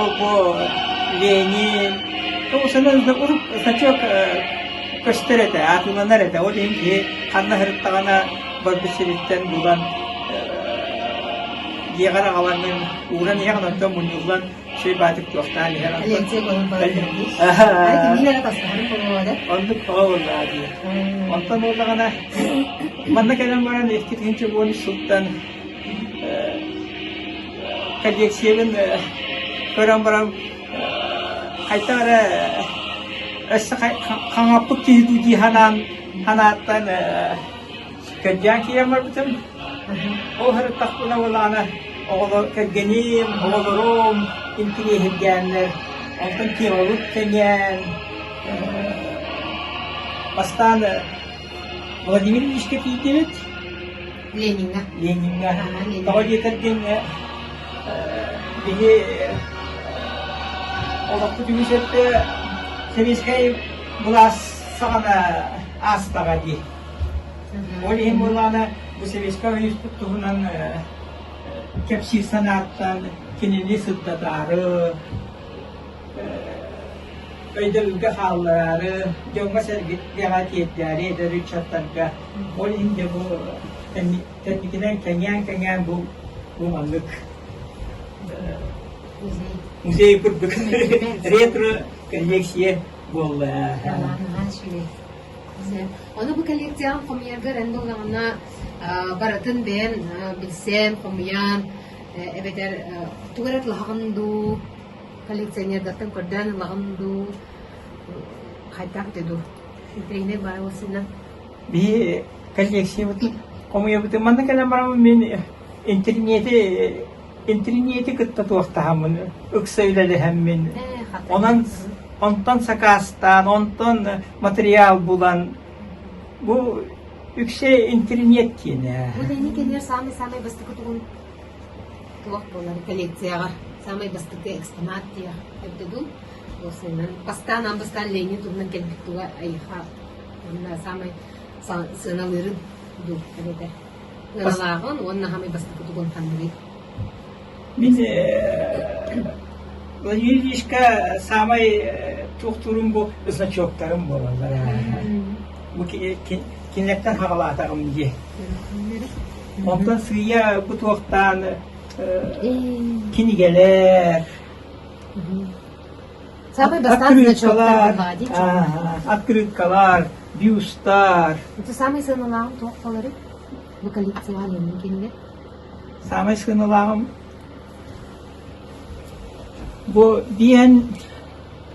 Ол-бу Ленин тоҕо санаабыта урук сачок көстөр этэ, атыыланар этэ. Ол иһин киһи ханна сырыттаҕына барбыт сириттэн булан дьиэҕэр аҕалаҥын ууран иһэн онтон мунньуллан чэй баатык туохтаан иһэн Ленция көһөн баран Оннук того буоллаҕа дии. Онтон буоллаҕына манна кэлэн баран икки тыһыынча буон сылтан Кэлиэксийэбин көрөн баран хайта эрэ өссө хаҥаппыт киһи дуу дии санаан санааттан кэрдээн киирэн барбытым. Ол сырыттахпына былаана оҕолор кэргэним, оҕолорум интириэһиргээннэр. Онтон темабыт кэҥээн бастаан Владимир Ильичкэ тиийдибит. Лениҥҥэ. Лениҥҥэ. Тоҕо диэтэр диэн киһи олохпут үгүс өттө сэбиэскэй былаас саҕана аастаҕа дии. Ол иһин буолаана бу сэбиэскэй уйуспут туһунан кэпсиир санааттан кинини сырдатаары, өйдөбүлгэ хааллараары, дьоҥҥо-сэргэ тиэрдээри эдэр ыччаттарга ол инде бу тэнникинэн кэҥээн-кэҥээн бу бу маннык музей курдук ретро коллекция буолла. Ону бу коллекцияҕын хомуйарга ренду даҕана барытын бэйэн билсэн, хомуйан эбэтэр тугу эрэ тлаһаҕын дуу, Коллекционердартан көрдөөн ылаҕын дуу, хайдах эти дуу? Украинай баайбын сына. Бии коллекциябытын хомуйабытын манна кэлэн бараммын мин интэринээти интэринээти кытта туохтаһаммын ыкса үлэлэһэммин онон онтон сакаастаан онтон материал булан бу үксэ интэринээт диэн ээ. Бу тэнник кинилэр саамай-саамай бастакы тугун? Туох буолар коллекцияҕа саамай бастакы экспонат диэх эбитэ дуу, уопсайынан бастаан аан бастаан Ленин туһунан кэлбит туга айыха уонна саамай сыаналыырын дуу эбэтэ сыаналааҕын уонна саамай бастакы тугун ханныгый Мин Владимир Ильичка саамай туохтуурум бу значоктарым буолаллар бу кинилэртэн хабалаатаҕым дии. Онтон сыыйа бу туохтаан кинигэлэр, открыткалар, открыткалар, бюстар. Это самый сыаналааҕым туох болары? Bu коллекционный кинилэр. Самый сыаналааҕым bu диэн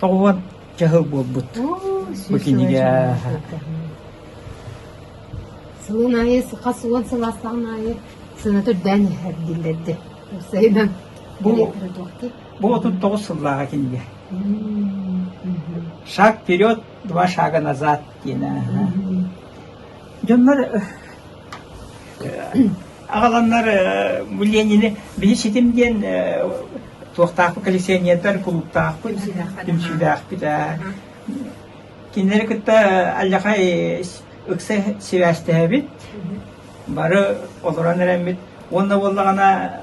Тоҕуон дьаһал буолбут бу кинигэ. Сылын айы хас уон сыл астаан айы сына түрдээн эрдиллэрде. Сайынан бу отут тоҕус сыллааҕа кинигэ. Шаг вперед, два шага назад диэн. Дьоннор Аҕаланнар бу Ленины били ситим диэн туохтаахпыт коллекционердар кулуктаахпыт, түмсүүлээхпит. Кинилэри кытта аллахай ыкса сибээстэһэбит, бары олорон эрэммит. Уонна буоллаҕына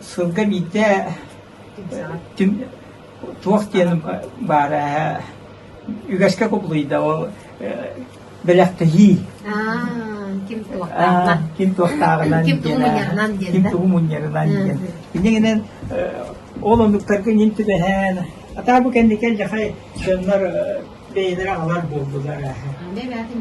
сылга биирдэ туох диэн баара үгэскэ кубулуйда ол бэлэхтэһии ким туохтааҕынан ким туохтааҕынан ким тугу мунньарынан диэн ким тугу мунньарынан диэн инньэ гинэн ол оннуктарга ньим түбэһэн атаа бу кэнники элдьэхэй дьоннор бэйэлэрэ аҕалар буолдулар бэйбээтин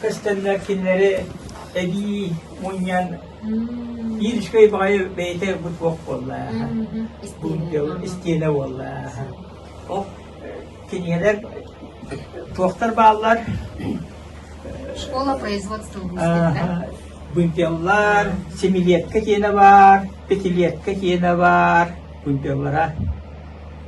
көстөллөр кинилэри эбии мунньан иришкэй баҕайы бэйэтэ ылбыт буох буоллааха истиэнэ буоллааха ол кинигэлэр туохтар бааллар школа производства бунтеллар семилетка киэнэ баар пятилетка киэнэ баар бунтеллара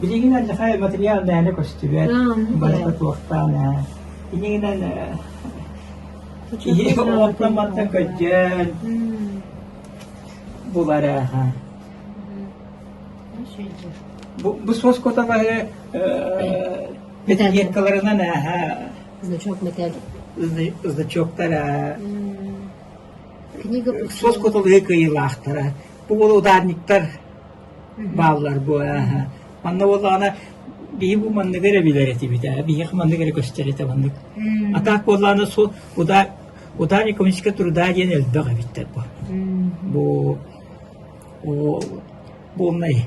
Билигинэн Захар Матриал мээнэ көстүбэт, барыта туохтаан ээ. Инигинэн киһи онтон-мантан көдьөн булар ааха. Бу суос коталары петикеткаларынан ааха значоктара. Суос коталары кыйылаахтара. Бу уол ударниктар бааллар буо ааһа. Манна буоллаҕына биһи бу манныгы эрэ билэр этибит ээ, биһиэхэ манныгы эрэ көстөр этэ маннык. А так буоллаҕына су удар ударниковичка труда диэн элбэх эбиттэр бу. Бу о буолнай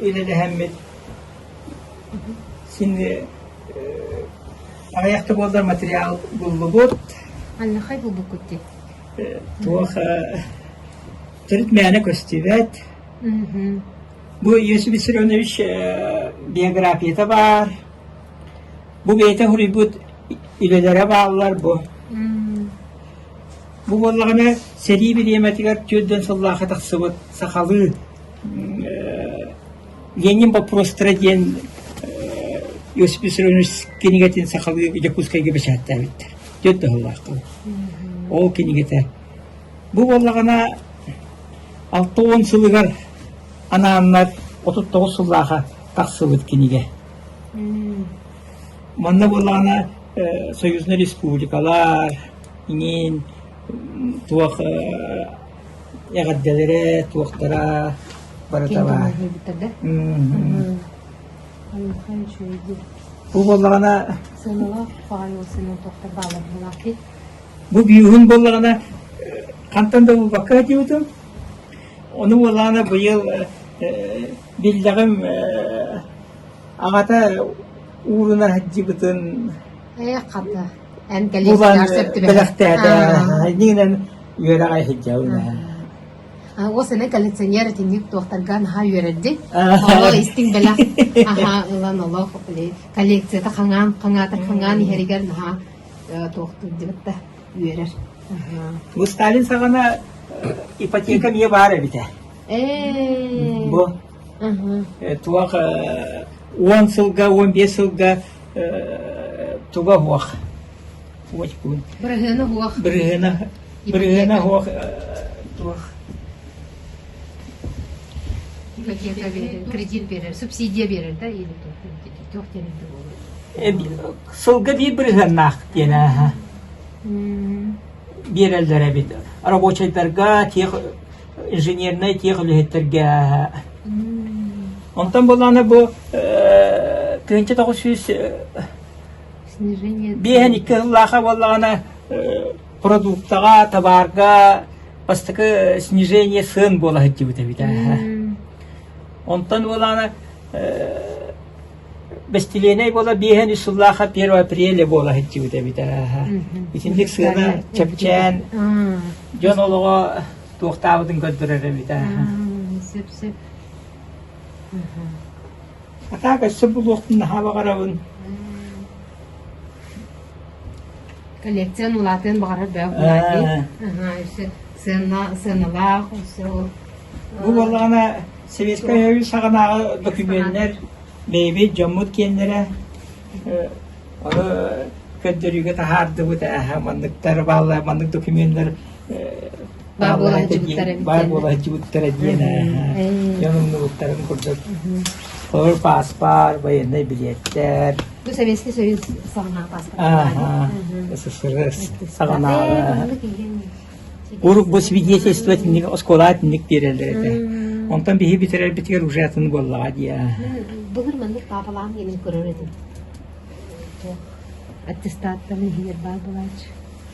үлэлэһэммит. Сини аҕыйах да буоллар материал буллубут. Аллахай булбуккут дии. Туоха төрүт мээнэ көстүбэт. Бу Иосиф Виссарионович биографията баар. Бу бэйэтэ хоруйбут үлэлэрэ бааллар бу. Бу буоллаҕына, сэрии бириэмэтигэр түөрдүөн сыллаахы тахсыбыт сахалыы «Ленин вопросторы» диэн кинигэтин сахалыы Дьокуускайга бэчээттээбиттэр. Түөрт да сыллаахха. Ол кинигэтэ. Бу буоллаҕына, алта уон сылыгар анааннар отут тоҕус сыллааҕа тахсыбыт кинигэ. Манна буоллаҕына союзнай республикалар иҥин туох эҕэрдэлэрэ, туохтара барыта баар. Бу буоллаҕына бу биюһун буоллаҕына хантан да булбакка этибитим. Ону буоллаҕына быйыл биллэҕим Аҕата ууруна сылдьыбытын булан бэлэхтээтэ, иннинэн үөрэҕэ сылдьабын ээ. Ол сэнэ коллекционер итинник туохтарга наһаа үөрэрдин. Олох истиҥ бэлэх аха ылан олох коллекцията хаҥаан хаҥаата хаҥаан иһэригэр наһаа туохтуйдубут да үөрэр. Бу Сталин саҕана ипотека эмиэ баар эбитэ. Бу Туох уон сылга, уон биэс сылга туга оһуох уочпун. Бырыһыана оһуох. Бырыһыана, бырыһыана оһуох туох кредит берер, субсидия берер да или туох тэрилтэ буолуо? Сылга биир бырыһыаннаах диэн ааһа. Биэрэллэр эбит. Рабочайдарга тех инженернай тиэх үлэһиттэргэ Онтон буолаана бу тыһыынча тоҕус сүүс биэһэн икки сыллааха буоллаҕына продуктаҕа, табаарга бастакы снижение сыан буола сылдьыбыта эбитэ. Онтон буолаана Бэстилиэнэй буола биэһэн үс сыллаахха первое апреля буола сылдьыбыт эбитэ. Итинник сыана чэпчээн дьон олоҕо туохтаабытын көрдөрөр эбитэ. Сөп-сөп. А так өссө булуохтун наһаа баҕарабын. коллекцияны улаатыан баҕарар бөҕө улаатыы өссө сыаналаах өссө Бу буоллаҕына Советскай Союз саҕанааҕы докумуоннар бэйэбит дьоммут киэннэрэ ону көрдөрүүгэ таһаардыбыт манныктар бааллар маннык докумуоннар баар буола сылдьыбыттара баар буола сылдьыбыттара диэн дьон умнубуттарын курдук олор пааспар военнай билиэттэр бу Советский Союз саҕана пааспар СССР саҕанааҕа Урук бу свидетельство тинник оскуола тинник биэрэлэр этэ онтон биһи бүтэрэрбитигэр уже атын буоллаҕа дия былыр маннык папалаан генин көрөр этим аттестаттаны иһигэр баар булааччы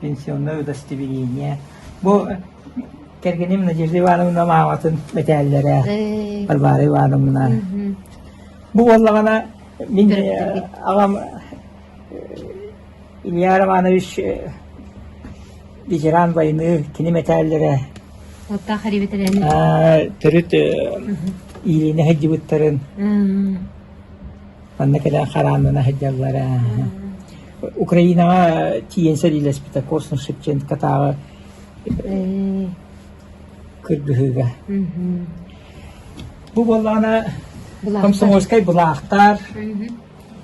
пенсионнай удостоверение. Бу кэргэним Надежда Ивановна мааматын мэтээллэрэ Варвара Ивановна. Бу буоллаҕына мин э, аҕам э, Илья Романович э, ветеран войны кини мэтээллэрэ Оттах төрүт иилине сылдьыбыттарын манна кэлэн хараанына сылдьаллара Украинаҕа тиийэн сэриилэспитэ Корсун Шевченкотааҕы кыргыһыыга. Бу буоллаҕына комсомольскай былаахтар,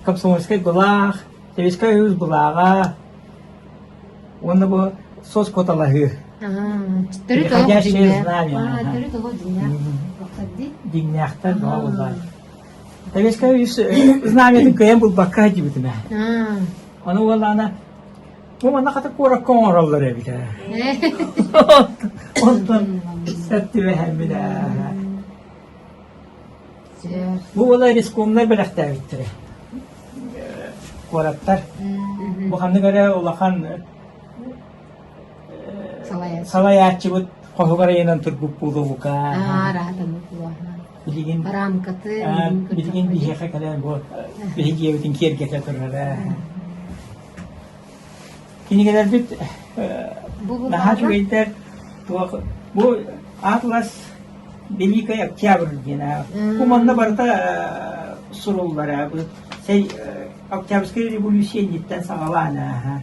комсомольскай былаах, Советскай Союз былааҕа уонна бу соцкуоталаһыы. Переходящее знамя. Дьиҥнээхтэр баҕа буоллар. Советскай знамятын кыайан булбакка сылдьыбытым ээ. Ону уоллаана бу манна хата куоракка оҥороллор эбитэ. Онтон сөптү эһэммит ээ. Бу уола рискомнар бэлэхтээбиттэрэ. Куораттар. Бу ханнык эрэ улахан салайааччыбыт хоһугар айынан турбут буолуока. Аа, раһатан буолуоха. Билигин бараамкаты билигин биһиэхэ кэлэн бу биһиги ийэбитин киэргэтэ турара. Кинигэлэрбит наһаа үчүгэйдэр. Бу Атлас Великий Октябрь диэн бу манна барыта суруллара бу сэй Октябрьская революция инниттэн саҕалаан ааха.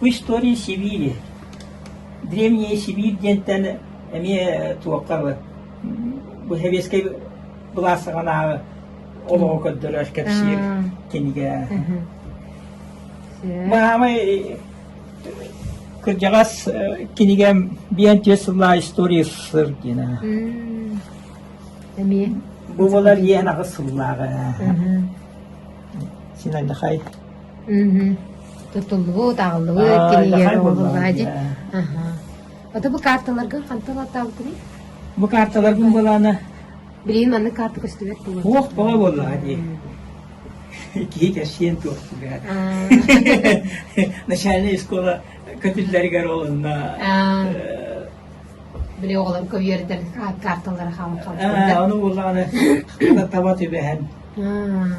Бу история Сибири, Древняя Сибирь диэнтэн эмиэ туохха бу сэбиэскэй былаассаҕанааҕы олоҕу көрдөрөр кэпсиир кинигэ. Маамай кырдьаҕас кинигэ биэн түөрт сыллаа история сыр диэн. Эмиэ. Бу болар иэн аҕыс сыллааҕы. Син айдахай. Мм тутуллубут, аҕаллыбыт, Аа, кинилэр удахай оҥоһуллаа дии. буоллаҕа. Аһа. Аты бу каарталаргын хантан атаабытыный? Бу каарталарбын былаана Билигин маннык карта көстүбэт буолуо. туох бөҕө буоллаҕа дии. Киһи кэрсиэн туох түбэҕэ. Аа, Начальная школа көтүллэригэр олунна аа, э, били оҕолор көйүөрдэр каарталара хаалан Э, хаалбыттар. Ону буллаҕына таба түбэһэн. Аа.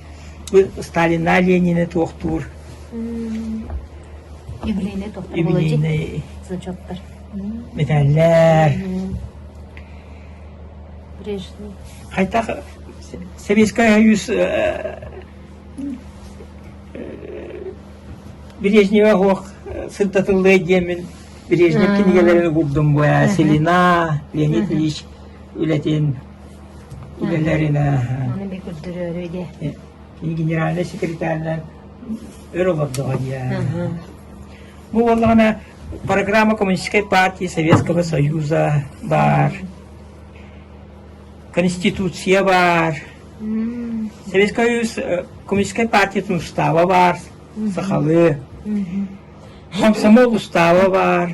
Сталина Ленины туохтуур металлэр хайдах Советскай Союз Брежнева оһох сырдатыллыай диэмин Брежнев кинигэлэрин угурдум бу Селина Леонид Ильич үлэтин генеральнай секретарынан өр олордоҕо диэн. Бу буоллаҕына программа Коммунистической партии Советского Союза бар. Конституция бар. Советский Союз э, Коммунистической партияның устава бар. Сахалы. Комсомол устава бар.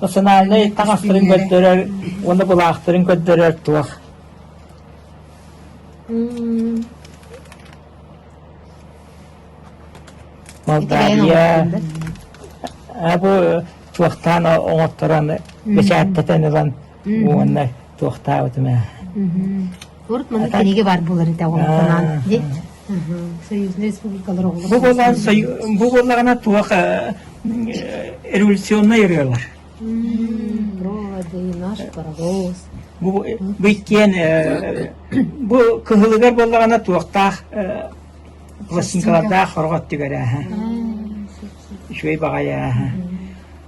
Национальнай таҥастарын көрдөрөр уонна былаахтарын көрдөрөр туох Молдавия бу туохтаан оҥотторон бэчээттэтэн ылан уонна туохтаабытым ээ урут маннык тэниигэ баар буолар этэ оҕо санаан ди союзная республикалар оҕолор бу буолар бу буоллаҕына туох революционнай ырыалар проводы наш паровоз бу бу иккиэн бу кыһылыгар буоллаҕына туохтаах пластинкалардаах хорҕот түгэрэ үчүгэй баҕайы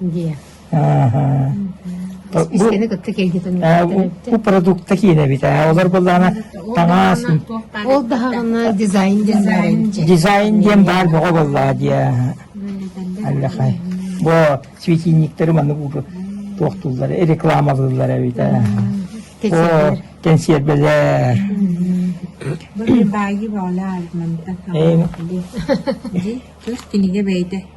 Дии. Кистэни кытта киэйдэтэн үөртэн Бу продукта киинэбит. Олор былаана таҥаас. Ол даһаҕына дизайн диэн баар эбиччэ. Дизайн диэн баар бөҕө боллаа дия. Аллахай. Бу светильниктары маннык туохтууллар, рекламалыыллар эбит. О, кэнсиэрбэлэр. Баайы баалаа мантан. Эм. Тус кинигэ бэйдэ.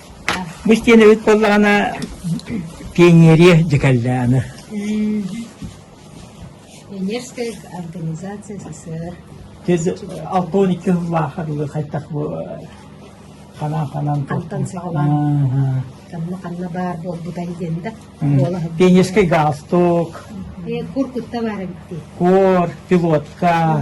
Бу истиэнэбит буоллаҕына пионерия дьэ кэллэҕинэ Пионерская организация СССР алпаан икки сыллаахха дылы хайдах бу ханан ханан хантан саҕалаан ханна ханна баар буолбутай диэн да пионерскай галстук кур кутта баар эбит дии кур пилотка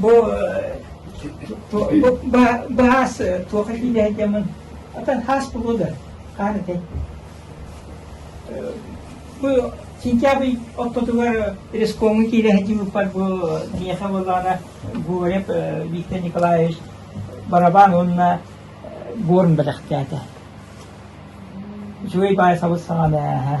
Бу баас туох этиилэ этэмин атан хаас булуда хаар этэ бу сентябрь ортотугар рескоҥҥа киирээһди буппар бу миэхэ боллаана Гурев Виктор Николаевич барабан уонна горн бэлэхтээтэ үчүгэй баай сабыт саҕана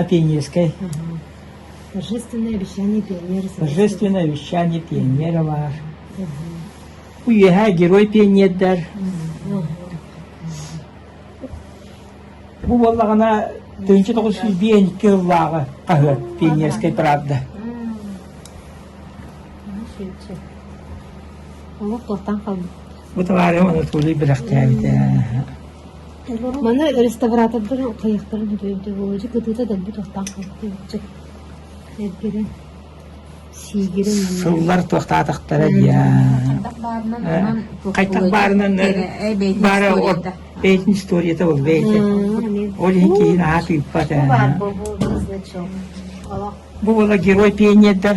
Апеннинскай Торжественное обещание пионеров баар Үөһээ герой пионердар Бу буоллаҕына тыһыынча тоҕус сүүс биэс икки сыллааҕы хаһыат Пионерскай правда Бу табаары Анатолий бэлэхтээбитэ. Маны реставратордары хайыахтарын сөбөйбүтэ буолуо. Дьэ кытыыта дэлби туохтаах буолбутча. Эргэрэн, сиигирин манна. Сыллар туохтаатахтара дия. Хайтах баарынан баара бэйэтин историята бол бэйэтэ. Ол иһин киһин аһа тыыппат ээ. Бу була герой пионердар.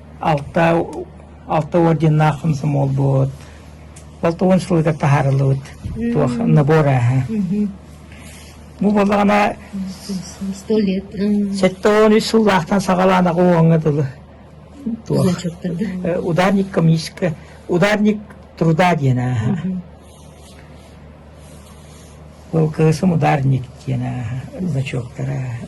Алта алта орденнаах комсомол буолбут, алта уон сылыгар таһаарыллыбыт туох набор ааһа. Бу буоллаҕына сто лет сэттэ уон үс сыллаахтан саҕалаан аҕа дылы туох э, ударник комическая ударник труда диэн ааһа. Был кыысым ударник диэн ааһа, значоктар ааһа.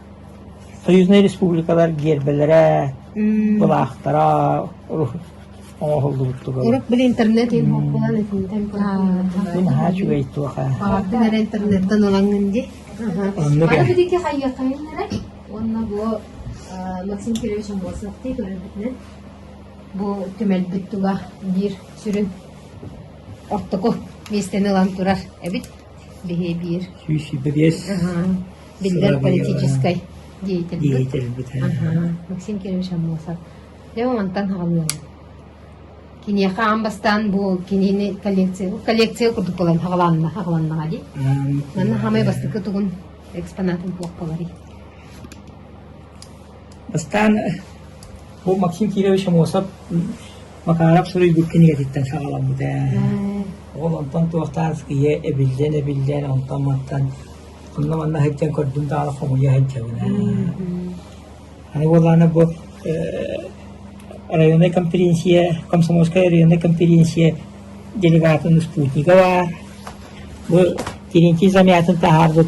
Союзнай республикалар гиэрбэлэрэ, былаахтара оҥоһуллубут тугуй? Урут били интернетин булан итинтэн бу наһаа үчүгэй туоха. Баҕатын эрэ интернеттан ылаҥын дии. Оннук Аны бидики хайыаххайын эрэ. Уонна бу Максим Кириллович Амбосовтыы көрөрбүтүнэн бу түмэлбит тула биир сүрүн ортоку миэстэни ылан турар эбит. Биһиэбиир биллэр политическай деятельбит Максим Кириллович Аммосов дьэ онтон хаҕылыаҕа киниэхэ аан бастаан бу кинини коллекция бу коллекция курдук буолан хаҕыланна хаҕыланнаҕа дии манна хаамай бастакы тугун экспонатын туох буоларый Бастаан бу Максим Кирович Амосов Макаров суруйбут кинигэтиттэн саҕаламмыта. Ол онтон туохтаах ийэ эбиллэн-эбиллэн, онтон-мантан онно-манна сылдьан көрдүм даҕаны хомуйа сылдьабын. Аны буоллаҕына бу районнай конференция, Комсомольскай районнай конференция делегатын Спутникова бу Терентий Замятын таһаарбыт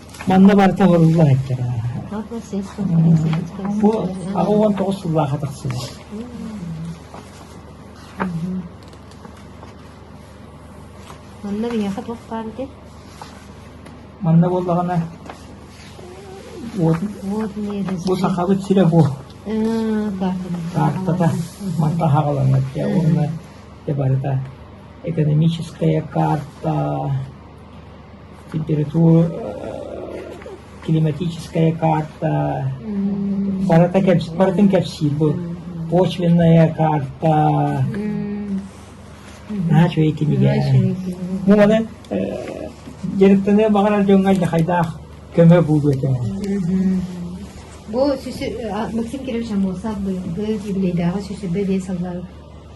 Манна барыта оҕолуулла иһиттэрэ. Бу аҕа уон тоҕус сыллааҕа тахсыбыт. Манна биһиэхэ туох баар ити? Манна буоллаҕына бу сахабыт сирэ бу. Картата манта хаҕаланар уонна барыта экономическая карта климатическая карта барыта барытын кэпсиир бу пошлинная карта наһаа үчүгэй кинигэ муҥунан дьарыктаныа баҕарар дьоҥҥо алдьархайдаах көмө буолуо этэ бу Максим Кириллович Аммосов быйылгы юбилейдааҕы сүүс сүүрбэ биэс сыллааҕы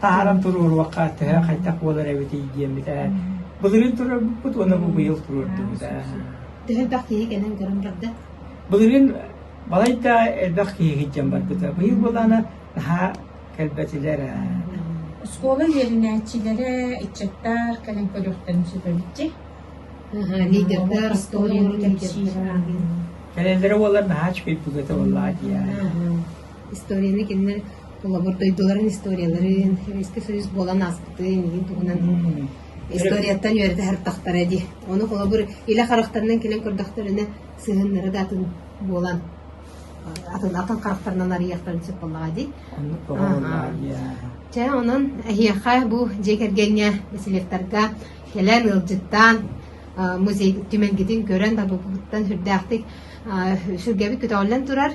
Таһааран туруоруохха, төһө хайдах буолар эбитий диэммитэ. Былырыын туруорбуппут уонна бу быйыл туруордубута. Төһөлбөх киһи кэлэн көрөн барда? Былырыын балайда элбэх киһи дьон барбыта. Быйыл буолаана наһаа кэлбэтилэр. Оскуола үөрэнээччилэрэ, ыччаттар кэлэн көрүөхтэрин сөп эбитти. Лидердэр, Ростовлары кэлбиттэр. Кэлэллэрэ буоллар наһаа үчүгэй бүгөтө буоллаа диэн. Историяны кинилэр Холобур, дойдуларын историяларын, Советский Союз буолан ааспытын иһин туһунан историяттан үөрэтэ сырдахтара дии. Ону холобур илэ харахтарынан кэлэн көрдөхтөрүнэ сыһыаннара да атын буолан атын атын харахтарынан арыйыахтарын сөп буоллаҕа дии. Оннук тоҕо Чэ, онон эһиэхэ бу дьиэ кэргэҥҥэ, бэсилиэктарга кэлэн ыалдьыттаан музей түмэлгитин көрөн табылбыттан сүрдээхтик сүргэбит көтөҕүллэн турар,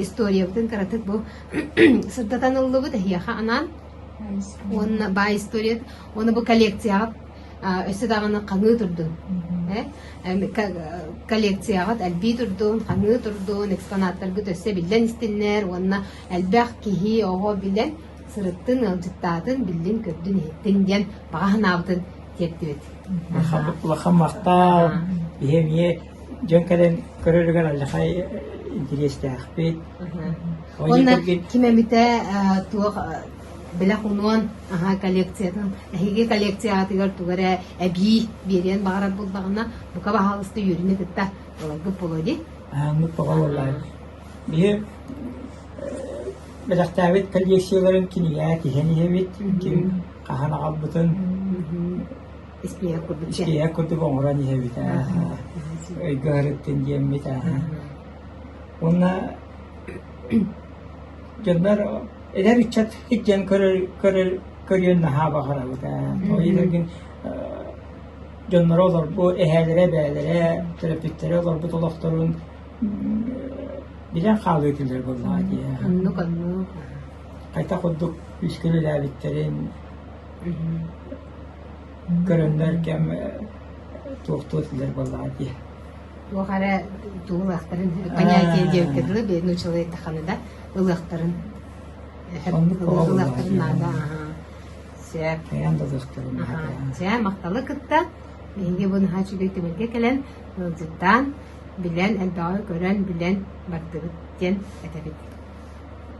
историябытын кыратык бу сырдатан ыллыбыт эһиэхэ анаан уонна баай историят уонна бу коллекцияҕыт өссө даҕаны ханыы турдун коллекцияҕыт элбии турдун ханыы турдун экспонаттаргыт өссө биллэн истиннэр уонна элбэх киһи оҕо билэн сырыттын ыалдьыттаатын биллин көрдүн иһиттин диэн баҕа санаабытын тиэрдибит улахан махтаал иһэ эмиэ Дьон кэлэн көрөрүгэр алдьархай интэриэстээхпит. Уонна ким эбитэ э туох бэлэх унуон аһаа коллекциятын эһиги коллекцияҕытыгар тугу эрэ эбии биэриэн баҕарар буоллаҕына бука баһаалыста үөрүнэ кытта буоларгыт буолуо дии. Ааммыт бөҕө буоллар. Биһи бэлэхтээбит коллекцияларын кинигэ тиһэн иһэбит, ким хаһан аҕалбытын Испииһэк курдук Испииһэк курдук оҥорон иһэбит өйгө ыһарыттын диэммит Уонна дьоннор эдэр ыччат сидьэн көрүөн наһаа баҕарабыт Итэргин дьонноро олорбут эһээлэрэ бээлэрэ төрөппүттэрэ олорбут олохторун билэн хаалыы этилэр буоллаҕа дии оннук оннук хайдах курдук күүскүн үлээбиттэрин Көрөллөр кэм туохтуу этилэр буоллаҕа дии. Туох эрэ тугу ылыахтарын понятия диэбиккэ дылы бедный человек даҕаны да ылыахтарын ылыахтарын наада аһа сээп хайаан да ылыахтарын наада сээп махталы кытта биһиги бу наһаа үчүгэй түмүлгэ кэлэн ыалдьыттаан билэн элбэҕи көрөн билэн бардыбыт диэн этэбит